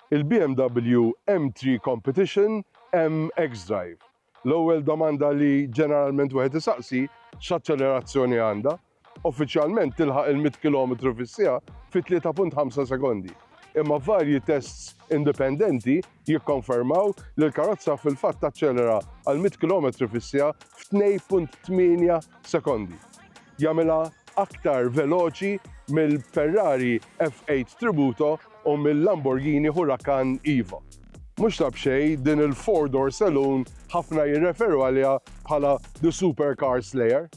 Il-BMW M3 Competition M xDrive. L-ewwel domanda li ġeneralment wieħed isaqsi x'aċċelerazzjoni għandha. Uffiċjalment tilħaq il-mitt kilometru fis-siegħa fi tlieta punt ħamsa sekondi. Imma varji tests indipendenti jikkonfermaw li l-karozza fil-fatt taċċelera għal mitt kilometri fis-siegħa f'tnej punt tmienja sekondi. jagħmilha aktar veloċi mill-Ferrari F8 Tributo u mil-Lamborghini Huracan Evo. Mhux ta' b'xejn, din il-four door saloon ħafna jirreferu għaliha bħala the supercar slayer.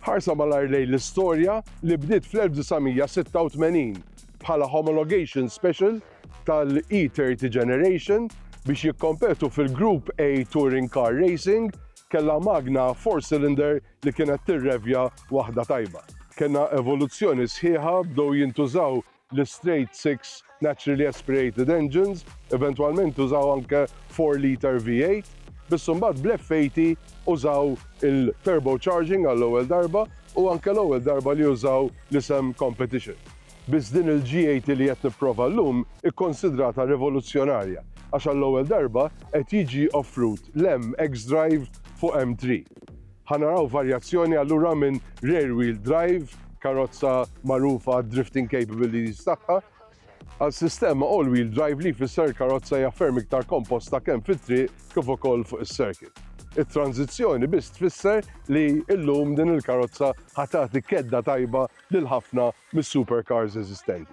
Ħarsa malajr lejn l-istorja li bdiet fl-1986 bħala homologation special tal-E30 Generation biex jikkompetu fil-Group A Touring Car Racing kellha magna four cylinder li kienet tirrevja waħda tajba. Kellna evoluzzjoni sħiħa, bdew jintużaw l-istrejt six naturally aspirated engines, eventwalment użaw anke four litre V8, biss imbagħad bl-F80 użaw il-turbocharging għall-ewwel darba u anke l-ewwel darba li użaw l-isem competition. Biss din il-GAT li qed nipprova llum hi konsidrata rivoluzzjonarja għax għall-ewwel darba qed jiġi offrut l-M xDrive fuq M three. Ħa naraw varjazzjoni allura minn rear wheel drive, karozza magħrufa għad-drifting capabilities tagħha, għal sistema all wheel drive li jfisser il-karozza hija ferm iktar komposta kemm fit-triq kif ukoll fuq is-circuit. It-tranżizzjoni biss tfisser li llum din il-karozza ħa tagħti kedda tajba lil ħafna mis-supercars eżistenti.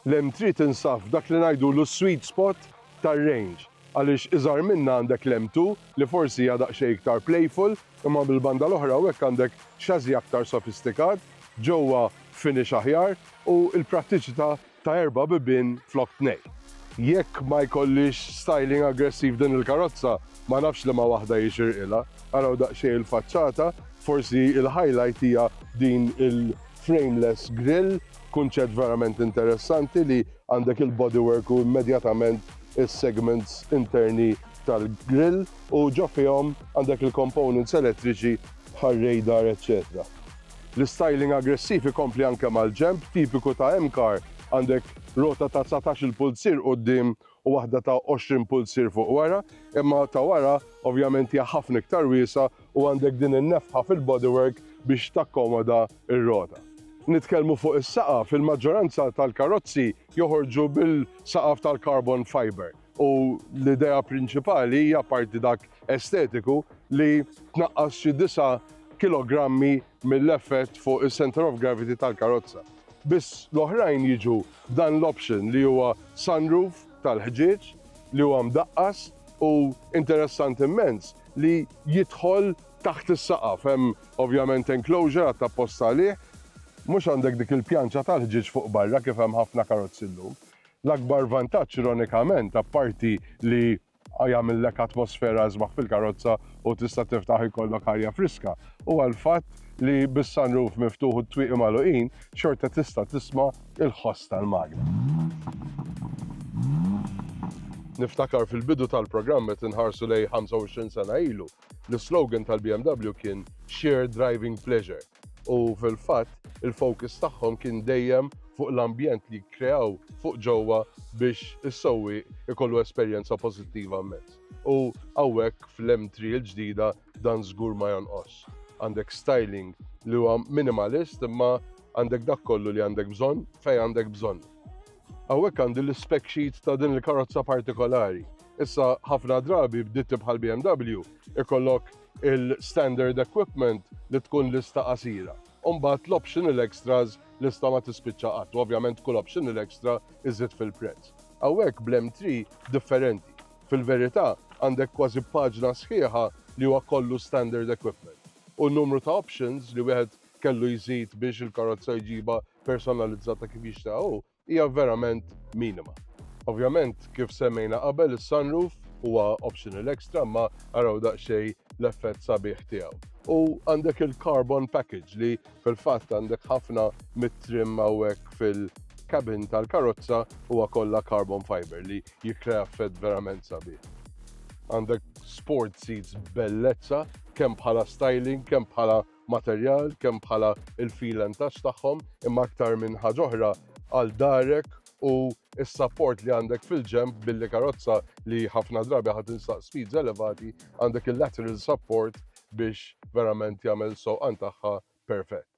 L-M3 tinsab f'dak li ngħidulu s-sweet spot tar-range għaliex iżgħar minnha għandek l-M2 li forsi hija daqsxejn iktar playful imma mill-banda l-oħra hawnhekk għandek chassis aktar sofistikat, ġewwa finish aħjar u l-prattiċità ta' erba' bibien flok tnejn. Jekk ma jkollhiex styling aggressiv din il-karozza, ma nafx liema waħda jixirqilha. Araw daqsxejn il-faċċata, forsi il-highlight hija din il-frameless grille, kunċett verament interessanti li għandek il-bodywork u immedjatament is-segments interni tal-grille u ġo fihom għandek il-components elettriċi bħar-radar eċċetera. L-istyling aggressiv ikompli anke mal-ġenb tipiku ta' M-Car, għandek rota ta' dsatax-il pulzier quddiem u waħda ta' għoxrin pulzier fuq wara, imma ta' wara ovvjament hija ħafna iktar wiesgħa u għandek din in-nefħa fil-bodywork biex takkomoda r-rota. Nitkellmu fuq is-saqaf, il-maġġoranza tal-karozzi joħorġu bil-saqaf tal-carbon fibre. u l-idea prinċipali hija apparti dak estetiku li tnaqqas xi disa' kilogrammi mill-effett fuq is-center of gravity tal-karozza. Biss l-oħrajn jiġu b'dan l-option li huwa sunroof tal-ħġieġ li huwa mdaqqas u interessanti immens li jidħol taħt is-saqaf. Hemm ovvjament enclosure għadd apposta għalih. Mhux għandek dik il-pjanċa tal-ħġieġ fuq barra kif hemm ħafna karozzi llum. L-akbar vantaġġ ironikament, apparti li jagħmillek atmosfera isbaħ fil-karozza u tista' tiftaħ ikollok arja friska, huwa l-fatt li bis-sunroof miftuħ u t-twieqi magħluqin, xorta tista' tisma' l-ħoss tal-magna. Niftakar fil-bidu tal-programm meta nħarsu lejn 25 sena ilu, l-islogan tal-BMW kien Shared Driving Pleasure. u fil-fatt il-focus tagħhom kien dejjem fuq l-ambjent li jikkreaw fuq ġewwa biex is-sewwieq ikollu esperjenza pożittiva immens. U hawnhekk fl-M3 il-ġdida dan żgur ma jonqos. Għandek styling li huwa minimalist imma għandek dak kollu li għandek bżonn fejn għandek bżonnu. Hawnhekk għandi l-spec sheet ta' din il-karozza partikolari. Issa ħafna drabi b'ditti bħal BMW ikollok il-standard equipment li tkun lista qasira. U mbagħad l-optional extras, lista ma tispiċċa qatt, u ovvjament kull optional extra iżżid fil-prezz. Hawnhekk bl-M3 differenti. Fil-verità, għandek kważi paġna sħiħa li huwa kollu standard equipment. U n-numru ta' options li wieħed kellu jżid biex il-karozza jġibha personalizzata kif jixtieqha hu, hija verament minima. Ovvjament, kif semmejna qabel, is-sunroof huwa optional extra imma araw daqsxejn l-effett sabiħ tiegħu. U għandek il-carbon package li fil-fatt għandek ħafna mit-trim hawnhekk fil- cabin tal-karozza huwa kollha carbon fiber li jikkrea effett verament sabiħ. Għandek sport seats bellezza kemm bħala styling, kemm bħala materjal kemm bħala l-feel and touch tagħhom imma aktar minn ħaġa oħra għal darek u s-sapport li għandek fil-ġenb billi karozza li ħafna drabi ħa tinsaq speeds elevati għandek il-lateral support biex verament jagħmel is-sewqan tagħha perfett.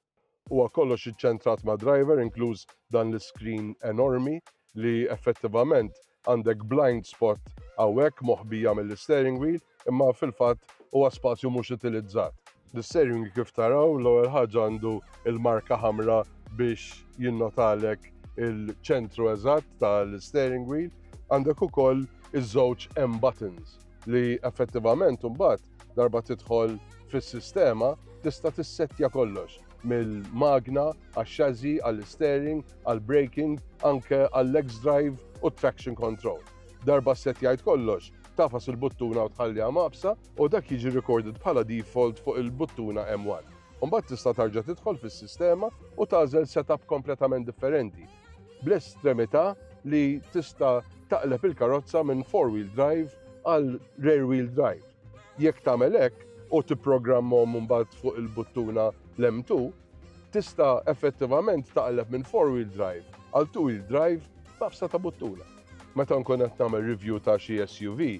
Huwa kollox iċċentrat mad-driver inkluż dan l-iskrin enormi li effettivament Għandek blind spot hawnhekk moħbija mill-isteering wheel imma fil-fatt huwa spazju mhux utilizzat. L-isteering wheel kif taraw l-ewwel ħaġa għandu l-marka ħamra biex jinnotalek il-ċentru eżatt tal-isteering wheel. Għandek ukoll iż-żewġ M buttons li effettivament imbagħad Darba tidħol fis-sistema tista' tissettja kollox mill-magna għax-xażi għall-steering, għall-braking, anke għall-legs drive u traction control. Darba ssettjajt kollox, tafas il-buttuna u tħalliha maqbsa u dak jiġi recorded bħala default fuq il-buttuna M1. Mbagħad tista' tarġa' tidħol fis-sistema u tagħżel setup kompletament differenti bl-estremità li tista' taqleb il-karozza minn four-wheel drive għal rear-wheel drive. Jekk tagħmel hekk u tipprogrammhom mbagħad fuq il-buttuna l-M2, tista' effettivament taqleb minn four-wheel drive għal two-wheel drive b'tafsa ta' buttuna. Meta nkun qed nagħmel review ta' xi SUV,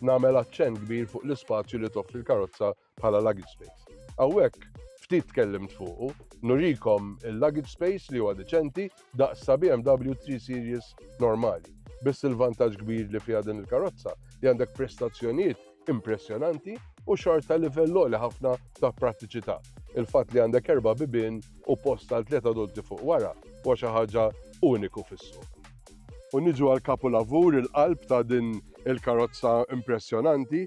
nagħmel aċċenn kbir fuq l-ispazju li toffri l-karozza bħala luggage space. Hawnhekk ftit tkellimt fuqu, nurikom il-luggage space li huwa deċenti daqs sa BMW 3 Series normali. Biss il-vantaġġ kbir li fiha din il-karozza li għandek prestazzjonijiet impressjonanti u xorta livell għoli ħafna ta' prattiċità. Il-fatt li għandek erba' bibien u post għal tliet adulti fuq wara huwa xi ħaġa uniku fis-suq. U niġu għal kapulavur il-qalb ta' din il-karozza impressjonanti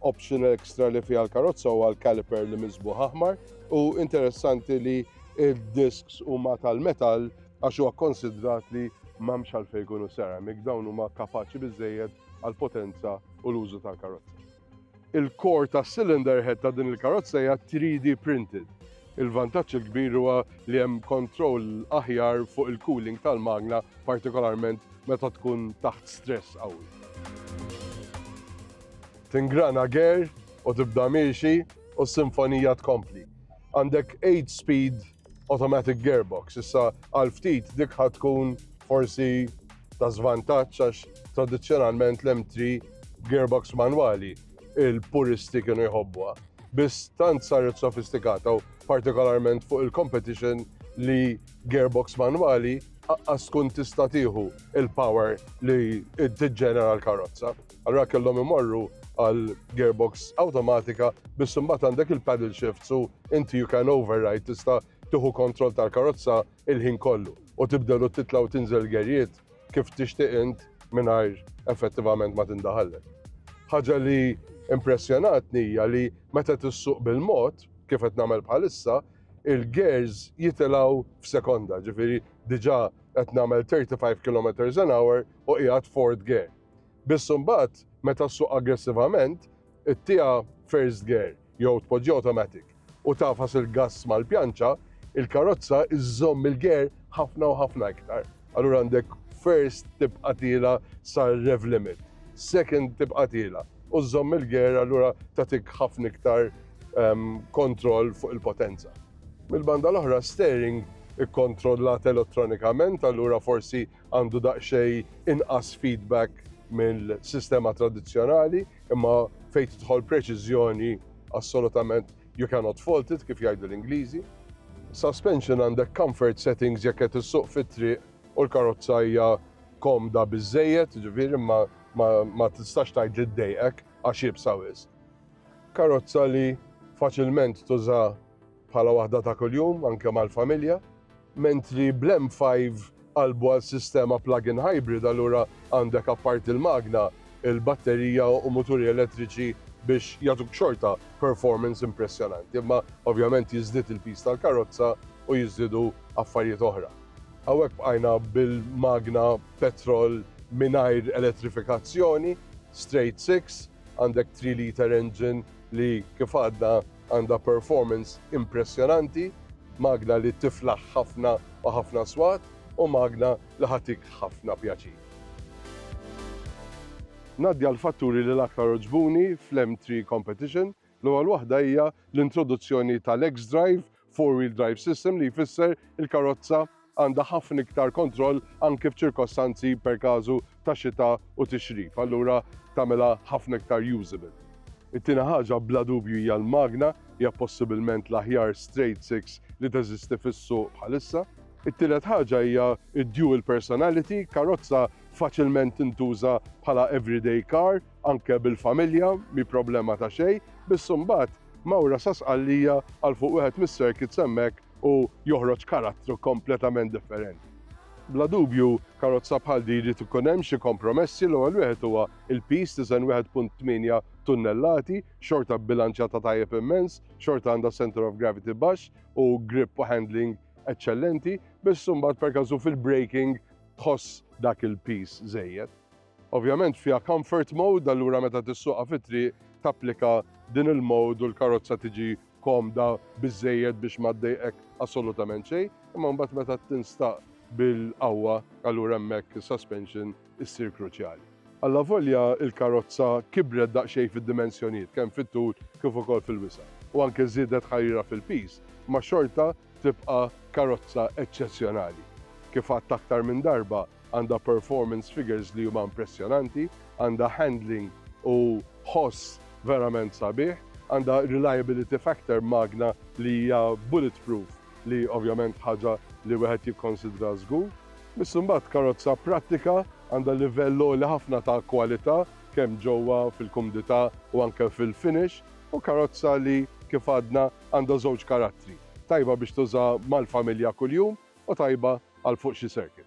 option extra li fiha l-karozza u għal caliper li mizbu aħmar u interessanti li il-disks huma tal-metal għax huwa konsidrat li m'hemmx għalfejn ikunu ceramic dawn huma kapaċi biżejjed għal potenza u l-użu tal-karozza. Il-kor ta' cylinder head ta' din il-karozza hija 3D printed. Il-vantaġġ il-kbir huwa li hemm kontroll aħjar fuq il-cooling tal-magna partikolarment meta tkun taħt stress qawwi. Tingrana ger u tibda miexi u s-sinfonija tkompli. Għandek 8 speed automatic gearbox, issa għal ftit dik ħad tkun forsi ta' żvantaġġ għax tradizzjonalment l-M3 gearbox manwali il-puristi kienu jħobbuha. Biss tant saret sofistikata u partikolarment fuq il-competition li gearbox manwali aqqas tkun tista' tieħu il-power li tiġġenera l-karozza. Allura kellhom imorru għal gearbox awtomatika biss imbagħad għandek il-paddle shift su inti you can override tista' tieħu kontroll tal-karozza il-ħin kollu u tibdel u titla' u tinżel gerjiet kif tixtieq int mingħajr effettivament ma tindaħallek. Ħaġa li impressjonatni hija li meta tissuq bil-mod, kif qed nagħmel bħalissa, il-gears jitilgħu f'sekonda, ġifieri diġà qed nagħmel 35 km an hour u qiegħed fourth gear. Biss imbagħad meta ssuq aggressivament, ittieha first gear jew tpoġġiha automatic u tagħfas il-gass mal-pjanċa, il-karozza żżomm il-gear ħafna u ħafna iktar. Allura għandek first tibqa' tiela' sar-rev limit, second tibqa' tiela' u żżomm il-gear allura tagħtik ħafna iktar kontroll fuq il-potenza. Mill-banda l-oħra steering ikkontrollat elettronikament allura forsi għandu daqsxejn inqas feedback mill-sistema tradizzjonali, imma fejn tidħol preċiżjoni assolutament you cannot fault it kif jgħidu l-Ingliżi. Suspension għandek comfort settings jekk qed issuq fit-triq u l-karozza hija komda biżżejjed, ġifieri ma ma tistax tgħid li ddejqek għax iebsa wisq. Karozza li faċilment tuża bħala waħda ta' kuljum anke mal-familja, mentri bl-M5 qalbu għal sistema plug-in hybrid allura għandek apparti l-magna, il-batterija u muturi elettriċi biex jagħtuk xorta performance impressjonanti, imma ovvjament jiżdied il-piż tal-karozza u jiżdiedu affarijiet oħra. Hawnhekk bqajna bil-magna petrol mingħajr elettrifikazzjoni, straight six, għandek three litre engine li kif għadna, Għandha performance impressjonanti, magna li tiflaħ ħafna u ħafna swat u magna li ħa tik ħafna pjaċir. Ngħaddi għall-fatturi li l-aktar għoġbuni fl-M3 Competition. L-ewwel waħda hija l-introduzzjoni tal-xDrive four-wheel drive system li jfisser il-karozza għandha ħafna iktar kontroll anke f'ċirkostanzi per casu ta' xita u tixrif, allura tagħmilha ħafna iktar usable. It-tieni ħaġa bla dubju hija l-magna, hija possibilment l-aħjar straight six li teżisti fis-suq bħalissa. It-tielet ħaġa hija d-dual personality, karozza faċilment tintuża bħala everyday car, anke bil-familja, mhi problema ta' xejn, biss imbagħad mgħawra sa Sqallija għal fuq wieħed mis-circuits hemmhekk u joħroġ karattru kompletament differenti. Bla dubju, karozza bħal din jrid ikun hemm xi kompromessi, l-ewwel wieħed huwa l-piż, tiżen 1.8 tunnellati, xorta bbilanċjata tajjeb immens, xorta għandha centre of gravity baxx u grip u handling eċċellenti, biss imbagħad perkażu fil-braking tħoss dak il-piż żejjed. Ovvjament fiha comfort mode, allura meta tissuqha fit-triq tapplika din il-mode u l-karozza tiġi komda biżżejjed biex ma ddejqek assolutament xejn, imma mbagħad meta tinstaq bil-qawwa allura hemmhekk is-suspension issir kruċjali. Allavolja l-karozza kibret daqsxejn fid-dimensjonijiet kemm fit-tul kif ukoll fil-wisa' u anke żiedet ħarirha fil-piż, ma xorta tibqa' karozza eċċezzjonali. Kif għadt aktar minn darba, għandha performance figures li huma impressjonanti, għandha handling u ħoss verament sabiħ, għandha reliability factor magna li hija bullet proof li ovvjament ħaġa li wieħed jikkonsidra żgur. Biss imbagħad karozza prattika, għandha livell għoli ħafna ta' kwalità kemm ġewwa fil-kumdità u anke fil-finish u karozza li kif għadna għandha żewġ karattri, tajba biex tuża mal-familja kuljum u tajba għal fuq xi circuit.